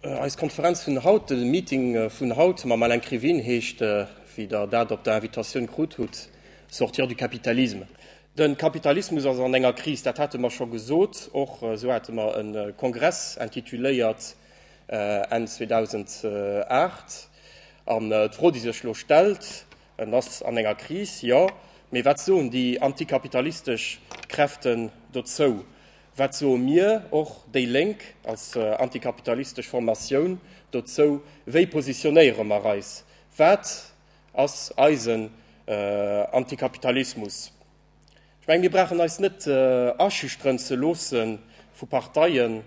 Eis Konferenz vun haut, de Meeting vun haut mam Alain Krivine heescht, wéi Der dat op der Invitatioun krut hutt, Sortir du capitalisme. De Kapitalismus ass an enger Kris, dat hate mer scho gesot. Och esou hate mer e Kongress intituléiert Enn 2008. An d'Fro, déi sech elo stellt, En ass an enger Kris, jo, mee wat soen déi antikapitalistesch Kräften dozou? Wat soe mir, och déi Lénk als antikapitalistesch Formatioun, dozou? Wéi positionéiere mer eis? Wat ass eisen Antikapitalismus? Ech menge mir brauchen eis net aschüchteren ze loosse vu Parteien,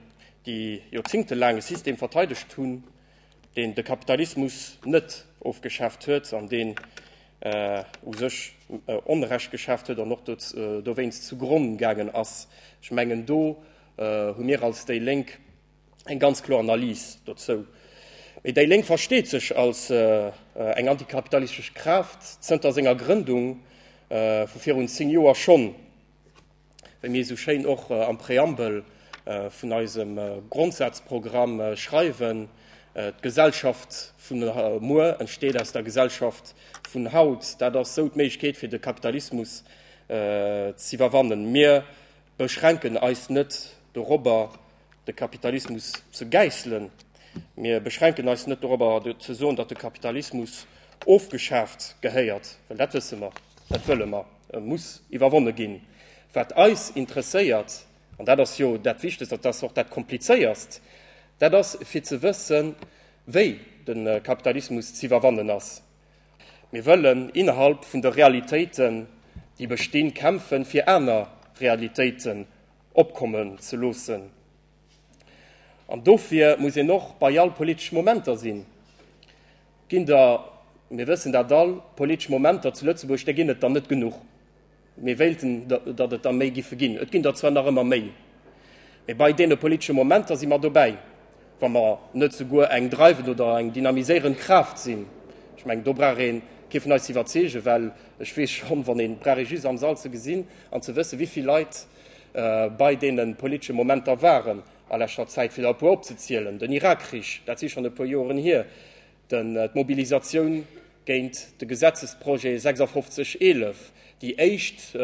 déi joerzéngtelaang e System verteidegt hunn, deen de Kapitalismus net ofgeschaaft huet an deen u sech Onrecht geschaaft huet an och dowéinst zu Gronn gaangen ass. Ech mengen, do hu mir als déi Lénk eng ganz kloer Analys dozou. Mee déi Lénk versteet sech als eng antikapitalistesch Kraaft zënter senger Grëndung vu virun zéng Joer schonn. wéi mir esou schéin och am Präambel vun eisem Grondsazprogramm schreiwen, D'Gesellschaft vun muer entsteet aus der Gesellschaft vun haut. Dat ass esou d'Méiglechkeet fir de Kapitalismus z'iwwerwannen. Mir beschränken eis net dorobber de Kapitalismus ze gäisselen, mir beschränken eis net dorobber ze soen, datt de Kapitalismus ofgeschaaft gehéiert, well dat wësse mer, dat wëlle mer. E muss iwwerwonne ginn. Wat eis interesséiert, an dat ass jo dat Wichtegst, dat ass och dat Komplizéierst, dat ass fir ze wëssen, wéi de Kapitalismus z'iwwerwannen ass. Mir wëllen innerhalb vun de Realitéiten, déi bestinn, kämpfen, fir aner Realitéiten opkommen ze loossen. An dofir muss een och bei all politesch Momenter sinn. ginn der, mir wëssen dat all, politesch Momenter zu Lëtzebuerg, där ginn et der net genuch. Mir wéilten, datt et der méi giffe ginn. Et ginn der zwar nach ëmmer méi, mee bei deene politesche Momenter si mer dobäi, wa mer net souguer eng dreiwend oder eng dynamiséierend Kraaft sinn. Ech mengen, do brauch ee kee vun eis ze iwwerzeegen, well ech weess schonn, wann ee brauch ee just am Sall ze gesinn an ze wëssen, wéi vill Leit bei deene politesche Momenter waren, A leschter Zäit fir der e puer opzezielen, den Irakkrich, dat si schonn e puer Joren hier, d'Mobilisatioun géint de Gesetzesprojet 5611, déi éischt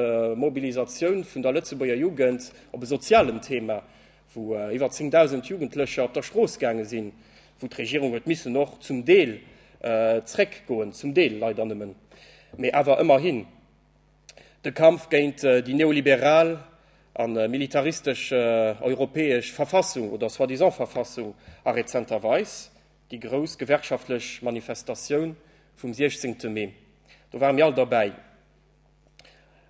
Mobilisatioun vun der Lëtzebuerger Jugend op e sozialen Thema, wou iwwer 10.000 Jugendlecher op der Strooss gaange sinn, wou d'Regierung huet missen och zum Deel zréckgoen, zum Deel leider nëmmen, mee awer ëmmerhin. De Kampf géint déi neoliberal a militaristesch europäesch Verfassung, oder soi-disant Verfassung, a rezenterweis déi grouss gewerkschaftlech Manifestatioun vum 16 Mee, do ware mir all derbäi.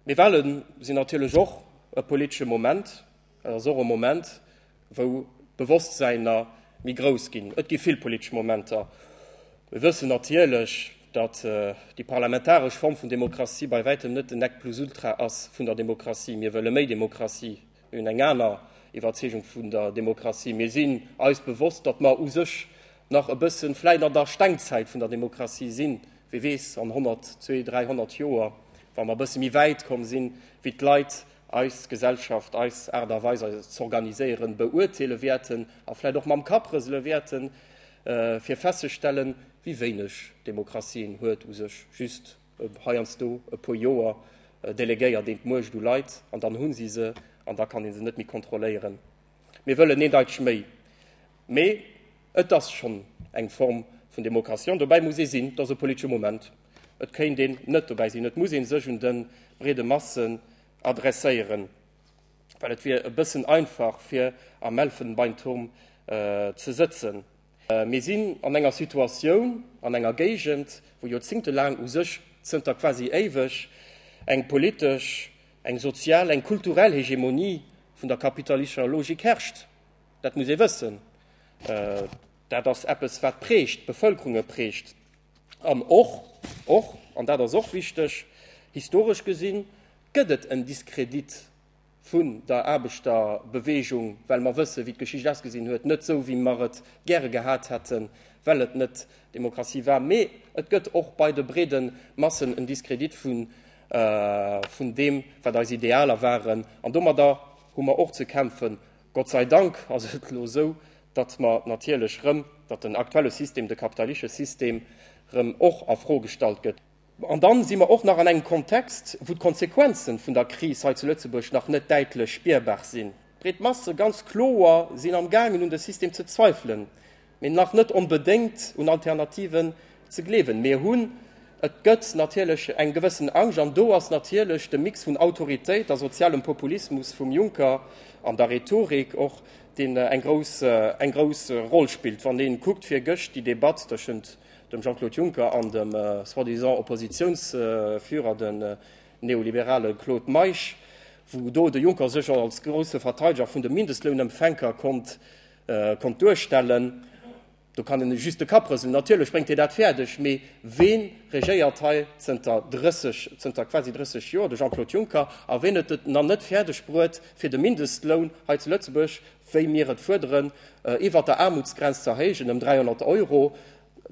Mee Wale sinn natierlech och e politesche Moment, Et ass och e Moment, wou d'Bewosstsäiner méi grouss ginn. Et gi vill politesch Momenter. Mir wëssen natierlech, datt déi parlamentaresch Form vun Demokratie bei wäitem net den Nec plus ultra ass vun der Demokratie. Mir wëlle méi Demokratie. Mir hunn eng aner Iwwerzeegung vun der Demokratie. Mir sinn eis bewosst, datt mer u sech nach e bëssen vläicht an der Stengzäit vun der Demokratie sinn. Wie weess, an honnert, zwee, dräihonnert Joer, wa mer e bësse méi wäit komm sinn, wéi d'Leit eis Gesellschaft, eis Aart a Weis eis z'organiséieren, beurteele wäerten a vläicht och mam Kapp rësele wäerten, fir festzestellen, wéi wéineg Demokratie een huet, u sech just heiansdo e puer Joer delegéiert een d'Muecht u Leit an dann hu si se an da kann ee se net méi kontrolléieren. Mir wëllen eendeiteg méi. Mee et ass schonn eng Form vun Demokratie an dobäi muss ee sinn, et ass e politesche Moment. Et kéint een net dobäi sinn. Et muss ee sech un de breede Masse adresséieren, well et wier e bëssen einfach fir am Elfenbeinturm ze sëtzen. Mir sinn an enger Situatioun, an enger Géigend, wou joerzéngtelaang, u sech zënter quasi éiweg, eng politesch, eng sozial, eng kulturell Hegemonie vun der kapitalistescher Logik herrscht. Dat muss ee wëssen. Dat ass eppes wat prägt, d'Bevëlkerunge prägt. An och, och, an dat ass och wichteg, historesch gesi gëtt et en Diskredit vun der Aarbechterbeweegung, well mer wëssen, wéi d'Geschicht ausgesinn huet, net esou, wéi mer et gäre gehat hätten, well et net d'Demokratie war. Mee et gëtt och bei de breede Massen en Diskredit vun deem, wat eis Idealer waren. An domadder hu mer och ze kämpfen. Gott sei Dank ass et elo esou, datt mer natierlech erëm, datt den aktuelle System, de kapitalische System erëm och a Fro gestallt gëtt. An dann si mer och nach an engem Kontext, wou d'Konsequenzen vun der Kris hei zu Lëtzebuerg nach net däitlech spierbar sinn. D'breet Masse ganz kloer sinn am gaangen un de System ze zweifelen. mee nach net onbedéngt un Alternativen ze gleewen. Mir hunn, et gëtt natierlech eng gewëssen Angscht, an do ass natierlech de Mix vun Autoritéit a sozialem Populismus vum Juncker an der Rhetorik och, deen eng grouss, eng grouss Roll spillt. Wann ee kuckt virgëscht déi Debatt tëschent dem Jean-Claude Juncker an dem soi-disant Oppositiounsführer, den neoliberale Claude Meisch, wou do de Juncker sech als grousse Verteideger vun de Mindestlounempfänker konnt konnt duerstellen, do kann een just de Kapp rëselen. Natierlech bréngt hie dat fäerdeg, mee wee regéiert hei zënter 30, zënter quasi 30 Joer? De Jean-Claude Juncker. A ween huet et nach net fäerdeg bruet, fir de Mindestloun hei zu Lëtzebuerg, wéi mir et fuerderen, iwwert der Aarmutsgrenz ze erhéijen ëm 300 Euro?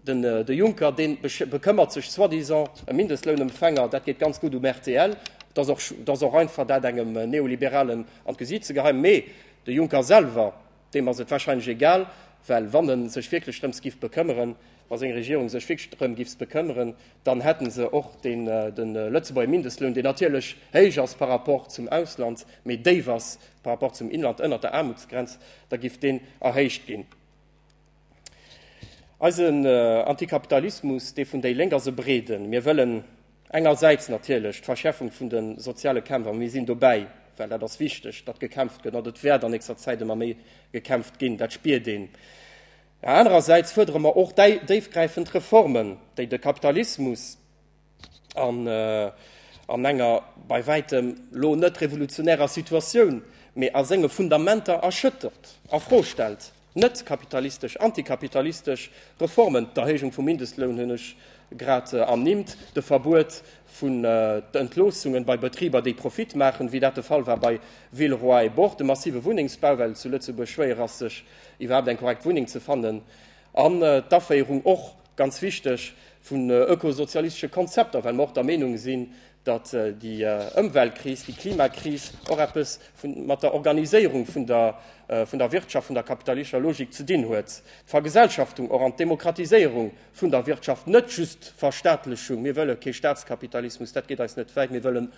De Juncker dee bekëmmert sech soi-disant ëm Mindestlounempfänger, dat geet ganz gutt um rtl, dat ass och einfach dat engem Neoliberalen an d'Gesiit ze gehei. Mee de Juncker selwer, deem ass et warscheinlech egal, well wann e sech wierklech drëms giff bekëmmeren, wa seng Regierung sech wierklech drëm giff bekëmmeren, dann hätte se och de Lëtzebuerger Mindestloun, deen natierlech héich ass par rapport zum Ausland, mee déif ass par rapport zum Inland, ënnert der Aarmutsgrenz, da giff deen erhéicht ginn. Eisen Antikapitalismus, dee vun déi Lénk, ass e breeden. Mir wëllen engersäits natierlech d'Verschäerfung vun de soziale Kämpf, a mir sinn dobäi, well dat ass wichteg, datt gekämpft gëtt, an dat wäert an nächster Zäit ëmmer méi gekämpft ginn, dat spiert een. Mä anerersäits fuerdere mer och déifgräifend Reformen, déi de Kapitalismus, An an enger bei wäitem lo net revolutionärer Situatioun, mee a senge Fundamenter erschëttert a Fro stellt, net kapitalistesch, antikapitalistesch Reformen, d'Erhéijung vum Mindestloun hunn ech grad ernimmt, de Verbuet vun Entloossungen bei Betriber, déi Profit maachen, wéi dat de Fall war bei Villeroy et Boch, de massive Wunnengsbau, well et zu Lëtzebuerg schwéier ass, sech iwwerhaapt eng korrekt Wunneng ze fannen, an d'Aféierung och ganz wichteg, vun ökosozialistesche Konzepter, well mer och der Meenung sinn, datt déi Ëmweltkris, déi Klimakris och eppes mat der Organiséierung vun der Wirtschaft, vun der kapitalistischer Logik ze dinn huet. D'Vergesellschaftung och an d'Demokratiséierung vun der Wirtschaft, net just d'Verstaatlechung, mir wëlle kee Staatskapitalismus, dat geet eis net wäit, mir wëlle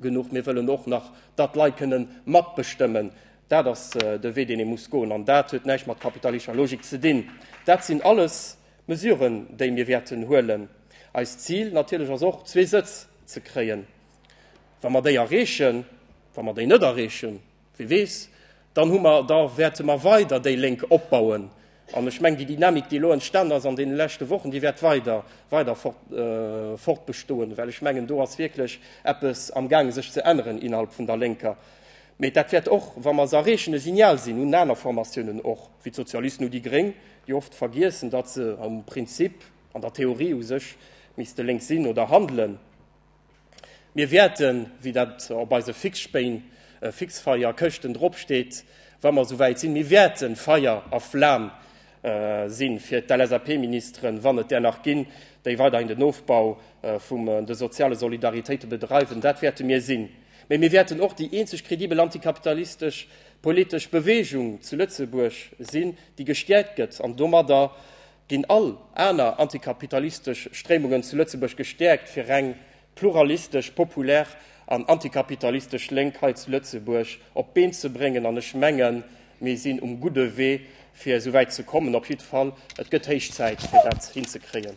genuch, mir wëllen och nach, datt d'Leit kënnen matbestëmmen, Dat ass de Wee, deen ee muss goen, an dat huet näischt mat kapitalischer Logik ze dinn. Dat sinn alles Mesuren, déi mir wäerten huelen. Eist Zil natierlech ass och, zwee Sëtz ze kréien. Wa mer déi erreechen, wa mer déi net erreechen, wie weess, dann hu mer, da wäerte mer weider déi Lénk opbauen. An ech mengen, déi Dynamik, déi elo entstanen ass an deene leschte Wochen, déi wäert weider, weider fortbestoen, well ech mengen, do ass wierklech eppes amgaangen, sech ze änneren innerhalb vun der Lénker. Mee dat wäert och, wa mer se erreechen, e Signal sinn un aner Formatiounen och, wéi d'Sozialisten oder déi Gréng, déi oft vergiessen, datt se am Prinzip, an der Theorie u sech, misste lénks sinn oder handelen. Mir wäerten, wéi dat op eise Fixspéin, Fixfeier, Këschten dropsteet, wa mer esouwäit sinn, mir wäerten Feier a Flam si fir d'LSAP-Ministeren, wann et där nach ginn, déi weiderhin den Ofbau vum de soziale Solidaritéite bedreiwen, dat wäerte mir sinn. Mee mir wäerten och déi eenzeg kredibel antikapitalistesch politesch Beweegung zu Lëtzebuerg sinn, déi gestäerkt gëtt an domadder ginn all aner antikapitalistesch Stréimungen zu Lëtzebuerg gestäerkt, fir reng pluralistesch, populär an antikapitalistesch Lénk hei zu Lëtzebuerg op d'Been ze bréngen. An ech mengen, mir sinn um gudde Wee, fir esou wäit ze kommen. Op jidde Fall, et gëtt héich Zäit, fir dat hinzekréien.